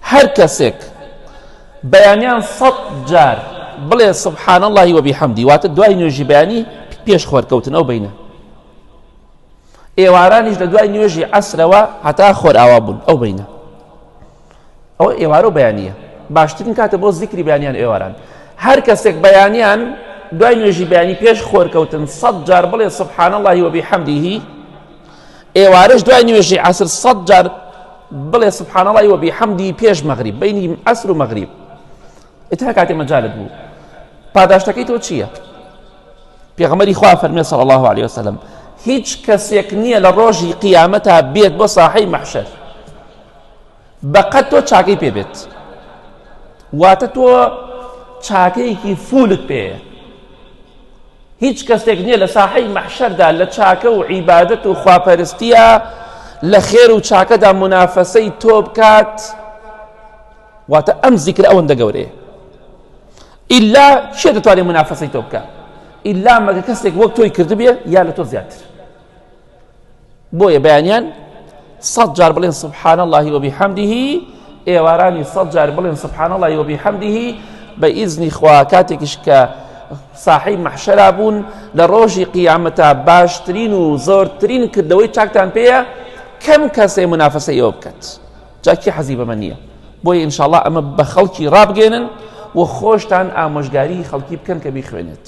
هەر کەسێک بەیانیان سەد جار بڵێ سبحان اللهی وبحمدی واتە دوای نوێژی بەیانی پێش خۆرکەوتنەوە بینە ئێوارانیش لە دوای نوێژی عسرەوە هەتا خۆر ئاوا بوون ئەو بینە ئەو ئێوارە بەیانە باشترین کاتە بۆ زیکری بەیانیان ئێواران هەر کەسێک بەیانیان دوای نوێژی بەیانی پێش خۆرکەوتن سەد جار بڵێ سبحان اللهی وبحمدیهی ئێوارەش دوای نوێژی عەسر سەد جار بڵێ سبحان اللهی وەبی حەمدی پێش مەغریب بینی ئەسر و مەغریب ئتها کاتێ مەجالت بوو پاداشتەکەی تۆ چییە؟ پێغمەری خوا فەرمێ سەڵ الله عليه وسلم هیچ کەسێک نییە لە ڕۆژی قیامەتا بێت بۆ ساحەی مەحشەر بەقەد تۆ چاکەی پێ بێت واتە تۆ چاکەیەکی فولت پێەیە هیچ کەسێک نییە لە ساحەی مەحشەردا لە چاکە و عیبادەت و خواپەرستیە لە خێر و چاکەدا منافەسەی تۆ بکات واتە ئەم زیکر ئەوەندە گەورەیە ئللا چێ دەتوانێت منافەسەی تۆ بکات ئللا مەگە کەسێک وەک تۆی کردبێ یا لە تۆ زیاتر بۆیە بەیانیان سەد جار بڵێن سبحان اللهی وەبی حەمدیهی ئێوارانی سەد جار بڵێن سبحان اللهی وەبی حەمدیهی بە ئیزنی خوا کاتێکیش کە ساحی مەحشەرا بوون لە ڕۆژی قیامەتا باشترین و زۆرترین کردەوەی چاکتان پێەیە کەم کەسێ منافەسە ئێوە بکات جاکی حەزی بەمە نییە بۆی ئینشاءله ئەمە بە خەڵکی ڕابگەێنن و خۆشتان ئامۆژگاری خەڵکی بکەن کە بیخوێنێت.